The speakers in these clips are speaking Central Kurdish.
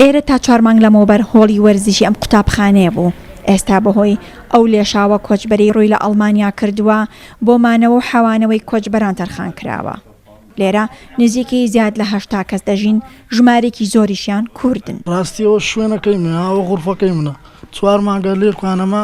ئێرە تا چوار مانگ لەمەوبەر هۆڵی وەرزشی ئەم قوتابخانەیە بوو، ئێستا بەهۆی ئەو لێشاوە کۆچبەرەی رووی لە ئەڵمانیا کردووە، بۆ مانەوە و حەوانەوەی کۆچبەران تەرخان کراوە. لێرە نزیکەی زیاد لە هەشتا کەس دەژین، ژمارەیەکی زۆریشیان کوردن. راستییەوە شوێنەکەی منە، ئاوە غورفەکەی منە، چوار مانگە لێکانەمە،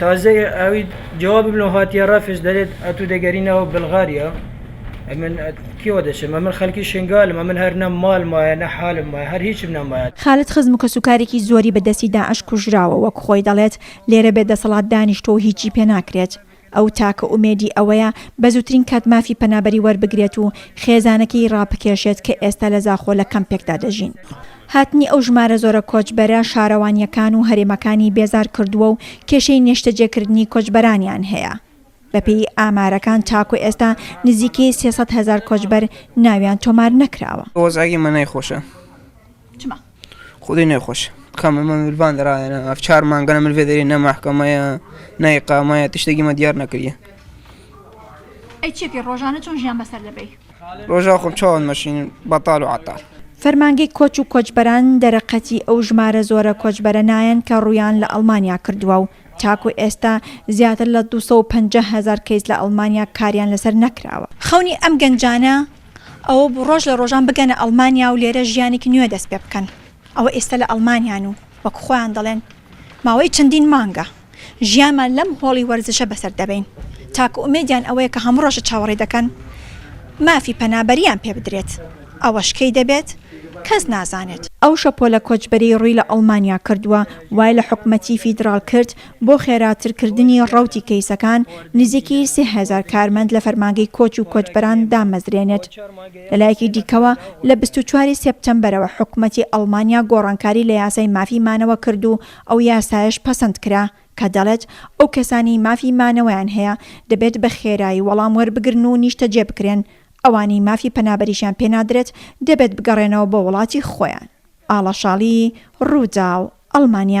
تازە ئاوی جوابم لۆ هاتیە ڕەفش دەێت ئەتو دەگەرینەوە بلغاریا ئەمن کیوە دەچێت ئەمن خەلکی شنگالم ئەمن هەر نە مال مایە نە حالم مایە هەر هیچم نەمایە. خالد خزم و کەسوکارێکی زۆری بە دەستی داعش کوژراوە وەک خۆی دەڵێت لێرە بێ دەسەڵات دانیشتوە و هیچی پێ ناکرێت ئەو تاکە ئومێدی ئەوەیە بە زوترین کات مافی پەنابەری وەربگرێت و خێزانەکەی ڕابکێشێت کە ئێستا لە زاخۆ لە کەمپێکدا دەژین. هاتنی ئەو ژمارە زۆرە کۆچبەرە شارەوانییەکان و هەرێمەکانی بێزار کردووە و کێشەی نێشتەجێکردنی کۆچبەرانیان هەیە. بەپێی ئامارەکان تاکو ئێستا نزیکەی سێ سەد هەزار کۆچبەر ناویان تۆمار نەکراوە. وەزعی منای خۆشە چما. خودی نای خۆش کە مە مە ملبان دەراەنە ئەف چار مانگەە مل دەێ نە ماحکەمەیە نای قامایە تشتێکی مە دیار نەکریە. ئەی چێکی ڕۆژانە چۆن ژیان بەسەر دەبەی؟ ڕۆژا خۆم چاوان مەشین بەتال و عەتال. فەرمانگەی کۆچ و کۆچبەران دەرەقەتی ئەو ژمارە زۆرە کۆچبەرە نایەن کە ڕوویان لە ئەڵمانیا کردووە و تاکو ئێستا زیاتر لە دوو سەد و پەنجا هەزار کەیس لە ئەڵمانیا کاریان لەسەر نەکراوە. خەونی ئەم گەنجانە ئەوە بوو ڕۆژ لە ڕۆژان بگەنە ئەڵمانیا و لێرە ژیانێکی نوێ دەست پێ بکەن. ئەوە ئێستا لە ئەڵمانیان و وەک خۆیان دەڵێن ماوەی چەندین مانگە. ژیانمان لەم هۆڵی وەرزشە بەسەر دەبەین، تاکە ئومێدیان ئەوەیە کە هەموو ڕۆژە چاوەڕێ دەکەن مافی پەنابەرییان پێ بدرێت، ئەوەش کەی دەبێت کەس نازانێت. ئەو شەپۆلە کۆچبەرەی ڕووی لە ئەڵمانیا کردووە، وای لە حکومەتی فیدراڵ کرد بۆ خێراتر کردنی ڕەوتی کەیسەکان، نزیکی سێ هەزار کارمەند لە فەرمانگەی کۆچ و کۆچبەران دامەزرێنێت. لە لایەکی دیکەوە لە بیست و چوار ی سێپتەمبەرەوە حکومەتی ئەڵمانیا گۆڕانکاری لە یاسای مافی مانەوە کرد و ئەو یاسایەش پەسەند کرا کە دەڵێت ئەو کەسانەی مافی مانەوەیان هەیە دەبێت بە خێرایی وەڵام وەربگرن و نیشتەجێ بکرێن، ئەوانەی مافی پەنابەریشیان پێ نادرێت دەبێت بگەڕێنەوە بۆ وڵاتی خۆیان. ئاڵەشاڵی، رووداو، ئەڵمانیا.